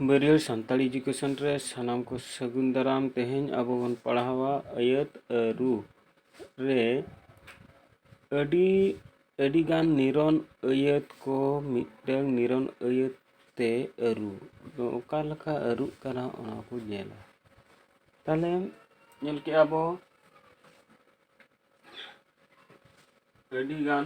ᱵᱟᱹᱨᱭᱟᱹᱲ Santali education ᱨᱮ ᱥᱟᱱᱟᱢ ᱠᱚ ᱥᱟᱹᱜᱩᱱ ᱫᱟᱨᱟᱢ ᱛᱮᱦᱮᱧ ᱟᱵᱚ ᱵᱚᱱ ᱯᱟᱲᱦᱟᱣᱟ ᱟᱹᱭᱟᱹᱛ ᱟᱹᱨᱩ ᱨᱮ ᱟᱹᱰᱤ ᱟᱹᱰᱤᱜᱟᱱ ᱱᱤᱨᱚᱱ ᱟᱹᱭᱟᱹᱛ ᱠᱚ ᱢᱤᱫᱴᱟᱹᱝ ᱱᱤᱨᱚᱱ ᱟᱹᱭᱟᱹᱛ ᱛᱮ ᱟᱹᱨᱩ ᱫᱚ ᱚᱠᱟ ᱞᱮᱠᱟ ᱟᱹᱨᱩᱜ ᱠᱟᱱᱟ ᱚᱱᱟ ᱠᱚ ᱧᱮᱞᱟ ᱛᱟᱦᱚᱞᱮ ᱧᱮᱞ ᱠᱮᱜᱼᱟ ᱵᱚ ᱟᱹᱰᱤᱜᱟᱱ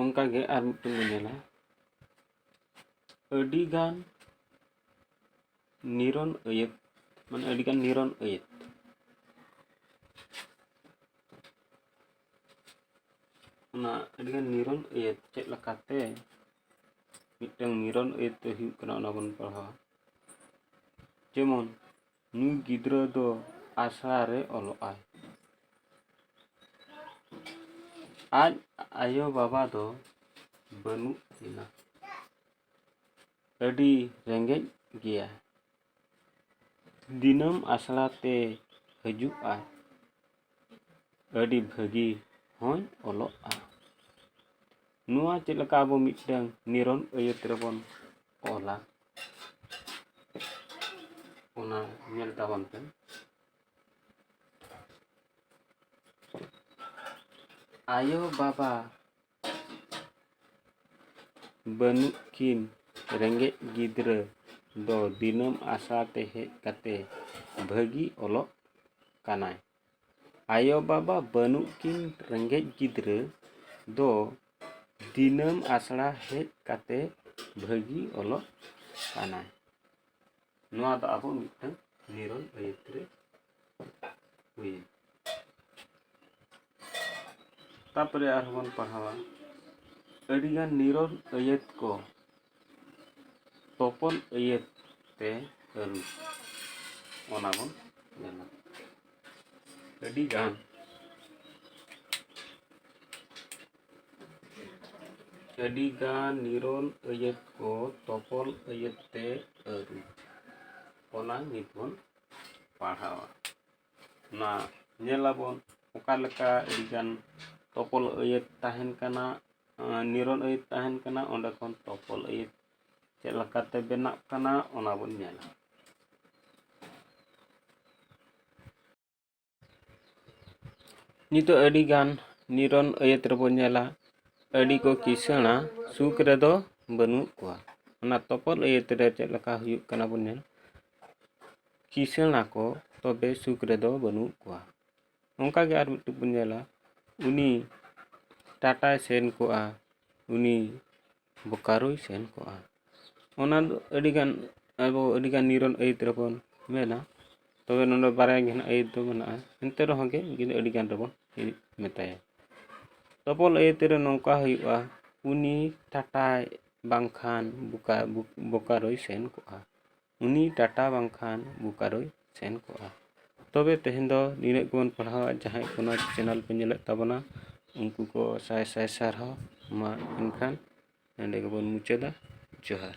ᱚᱱᱠᱟᱜᱮ ᱟᱨ ᱢᱤᱫᱴᱮᱱ ᱵᱚᱱ ᱧᱮᱞᱟ ᱟᱹᱰᱤᱜᱟᱱ ᱱᱤᱨᱚᱱ ᱟᱹᱭᱟᱹᱛ ᱢᱟᱱᱮ ᱟᱹᱰᱤᱜᱟᱱ ᱱᱤᱨᱚᱱ ᱟᱹᱭᱟᱹᱛ ᱚᱱᱟ ᱟᱹᱰᱤᱜᱟᱱ ᱱᱤᱨᱚᱱ ᱟᱹᱭᱟᱹᱛ ᱪᱮᱫ ᱞᱮᱠᱟᱛᱮ ᱢᱤᱫᱴᱟᱝ ᱱᱤᱨᱚᱱ ᱟᱹᱭᱟᱹᱛ ᱫᱚ ᱦᱩᱭᱩᱜ ᱠᱟᱱᱟ ᱚᱱᱟ ᱵᱚᱱ ᱯᱟᱲᱦᱟᱣᱟ ᱡᱮᱢᱚᱱ ᱱᱩᱭ ᱜᱤᱫᱽᱨᱟᱹ ᱫᱚ ᱟᱥᱲᱟ ᱨᱮ ᱚᱞᱚᱜ ᱟᱭ᱾ ᱟᱡ ᱟᱭᱳ ᱵᱟᱵᱟ ᱫᱚ ᱵᱟᱹᱱᱩᱜ ᱠᱤᱱᱟ᱾ ᱟᱹᱰᱤ ᱨᱮᱸᱜᱮᱡ ᱜᱮᱭᱟᱭ᱾ ᱫᱤᱱᱟᱹᱢ ᱟᱥᱲᱟ ᱛᱮᱭ ᱦᱟᱹᱡᱩᱜ ᱟᱭ᱾ ᱟᱹᱰᱤ ᱵᱷᱟᱹᱜᱤ ᱦᱚᱸᱭ ᱚᱞᱚᱜᱼᱟ᱾ ᱱᱚᱣᱟ ᱪᱮᱫ ᱞᱮᱠᱟ ᱟᱵᱚ ᱢᱤᱫᱴᱟᱝ ᱱᱤᱨᱚᱱ ᱟᱹᱭᱟᱹᱛ ᱨᱮᱵᱚᱱ ᱚᱞᱟ ᱚᱱᱟ ᱧᱮᱞ ᱛᱟᱵᱚᱱ ᱯᱮ ᱟᱭᱳ ᱵᱟᱵᱟ ᱵᱟᱹᱱᱩᱜ ᱠᱤᱱ ᱨᱮᱸᱜᱮᱡ ᱜᱤᱫᱽᱨᱟᱹ ᱫᱚ ᱫᱤᱱᱟᱹᱢ ᱟᱥᱲᱟ ᱛᱮ ᱦᱮᱡ ᱠᱟᱛᱮ ᱵᱷᱟᱹᱜᱤ ᱚᱞᱚᱜ ᱠᱟᱱᱟᱭ ᱟᱭᱳᱼᱵᱟᱵᱟ ᱵᱟᱹᱱᱩᱜ ᱠᱤᱱ ᱨᱮᱸᱜᱮᱡ ᱜᱤᱫᱽᱨᱟᱹ ᱫᱚ ᱫᱤᱱᱟᱹᱢ ᱟᱥᱲᱟ ᱦᱮᱡ ᱠᱟᱛᱮ ᱵᱷᱟᱹᱜᱤ ᱚᱞᱚᱜ ᱠᱟᱱᱟᱭ ᱱᱚᱣᱟ ᱫᱚ ᱟᱵᱚ ᱢᱤᱫᱴᱟᱹᱝ ᱱᱤᱨᱚᱱ ᱟᱹᱭᱟᱹᱛ ᱨᱮ ᱦᱩᱭᱮᱱ ᱛᱟᱯᱚᱨᱮ ᱟᱨᱦᱚᱸ ᱵᱚᱱ ᱯᱟᱲᱦᱟᱣᱟ ᱟᱹᱰᱤ ᱜᱟᱱ ᱱᱤᱨᱚᱱ ᱟᱹᱭᱟᱹᱛ ᱠᱚ ᱛᱚᱯᱚᱞ ᱟᱹᱭᱟᱹᱛ ᱛᱮ ᱟᱹᱨᱩ ᱚᱱᱟ ᱵᱚᱱ ᱢᱮᱱᱟ ᱟᱹᱰᱤ ᱜᱟᱱ ᱟᱹᱰᱤ ᱜᱟᱱ ᱱᱤᱨᱚᱱ ᱟᱹᱭᱟᱹᱛ ᱠᱚ ᱛᱚᱯᱚᱞ ᱟᱹᱭᱟᱹᱛ ᱛᱮ ᱟᱹᱨᱩ ᱚᱱᱟ ᱱᱤᱛ ᱵᱚᱱ ᱯᱟᱲᱦᱟᱣᱟ ᱚᱱᱟ ᱧᱮᱞ ᱟᱵᱚᱱ ᱚᱠᱟ ᱞᱮᱠᱟ ᱟᱹᱰᱤ ᱜᱟᱱ ᱛᱚᱯᱚᱞ ᱟᱹᱭᱟᱹᱛ ᱛᱟᱦᱮᱱ ᱠᱟᱱᱟ ᱱᱤᱨᱚᱱ ᱟᱹᱭᱟᱹᱛ ᱛᱟᱦᱮᱱ ᱠᱟᱱᱟ ᱚᱸᱰᱮ ᱠᱷᱚᱱ ᱛᱚᱯᱚᱞ ᱟᱹᱭᱟᱹᱛ ᱪᱮᱫ ᱞᱮᱠᱟᱛᱮ ᱵᱮᱱᱟᱜ ᱠᱟᱱᱟ ᱚᱱᱟ ᱵᱚᱱ ᱧᱮᱞᱟ ᱱᱤᱛᱚᱜ ᱟᱹᱰᱤ ᱜᱟᱱ ᱱᱤᱨᱚᱱ ᱟᱹᱭᱟᱹᱛ ᱨᱮᱵᱚᱱ ᱧᱮᱞᱟ ᱟᱹᱰᱤ ᱠᱚ ᱠᱤᱥᱟᱹᱬᱟ ᱥᱩᱠ ᱨᱮᱫᱚ ᱵᱟᱹᱱᱩᱜ ᱠᱚᱣᱟ ᱚᱱᱟ ᱛᱚᱯᱚᱞ ᱟᱹᱭᱟᱹᱛ ᱨᱮ ᱪᱮᱫ ᱞᱮᱠᱟ ᱦᱩᱭᱩᱜ ᱠᱟᱱᱟ ᱵᱚᱱ ᱧᱮᱞ ᱠᱤᱥᱟᱹᱬ ᱟᱠᱚ ᱛᱚᱵᱮ ᱥᱩᱠ ᱨᱮᱫᱚ ᱵᱟᱹᱱᱩᱜ ᱠᱚᱣᱟ ᱚᱱᱠᱟ ᱜᱮ ᱟᱨ ᱢᱤᱫᱴᱤᱡ ᱵᱚᱱ ᱧᱮᱞᱟ ᱩᱱᱤ ᱴᱟᱴᱟᱭ ᱥᱮᱱ ᱠᱚᱜᱼᱟ ᱩᱱᱤ ᱵᱳᱠᱟᱨᱳᱭ ᱥᱮᱱ ᱠᱚᱜᱼᱟ ᱚᱱᱟ ᱫᱚ ᱟᱹᱰᱤ ᱜᱟᱱ ᱟᱵᱚ ᱟᱹᱰᱤ ᱜᱟᱱ ᱱᱤᱨᱚᱱ ᱟᱹᱭᱟᱹᱛ ᱨᱮᱵᱚᱱ ᱢᱮᱱᱟ ᱛᱚᱵᱮ ᱱᱚᱰᱮ ᱵᱟᱨᱭᱟ ᱜᱮ ᱱᱟᱦᱟᱜ ᱟᱹᱭᱟᱹᱛ ᱫᱚ ᱢᱮᱱᱟᱜᱼᱟ ᱮᱱᱛᱮ ᱨᱮᱦᱚᱸ ᱜᱮ ᱩᱱᱠᱤᱱ ᱫᱚ ᱟᱹᱰᱤ ᱜᱟᱱ ᱨᱮᱵᱚᱱ ᱢᱮᱛᱟᱭᱟ ᱛᱚᱯᱚᱞ ᱟᱹᱭᱟᱹᱛ ᱨᱮ ᱱᱚᱝᱠᱟ ᱦᱩᱭᱩᱜᱼᱟ ᱩᱱᱤ ᱴᱟᱴᱟᱭ ᱵᱟᱝᱠᱷᱟᱱ ᱵᱳᱠᱟᱨᱳᱭ ᱥᱮᱱ ᱠᱚᱜᱼᱟ ᱩᱱᱤ ᱴᱟᱴᱟ ᱵᱟᱝᱠᱷᱟᱱ ᱵᱳᱠᱟᱨᱳᱭ ᱥᱮᱱ ᱠᱚᱜᱼᱟ ᱛᱚᱵᱮ ᱛᱮᱦᱮᱧ ᱫᱚ ᱱᱤᱱᱟᱹᱜ ᱜᱮᱵᱚᱱ ᱯᱟᱲᱦᱟᱣᱟ ᱡᱟᱦᱟᱸᱭ ᱠᱚ ᱱᱚᱣᱟ ᱪᱮᱱᱮᱞ ᱠᱚ ᱧᱮᱞᱮᱫ ᱛᱟᱵᱚᱱᱟ ᱩᱱᱠᱩ ᱠᱚ ᱥᱟᱭ ᱥᱟᱭ ᱥᱟᱨᱦᱟᱣ ᱢᱟ ᱮᱱᱠᱷᱟᱱ ᱱᱚᱰᱮ ᱜᱮᱵᱚᱱ ᱢᱩᱪᱟᱹᱫᱟ ᱡᱚᱦᱟᱨ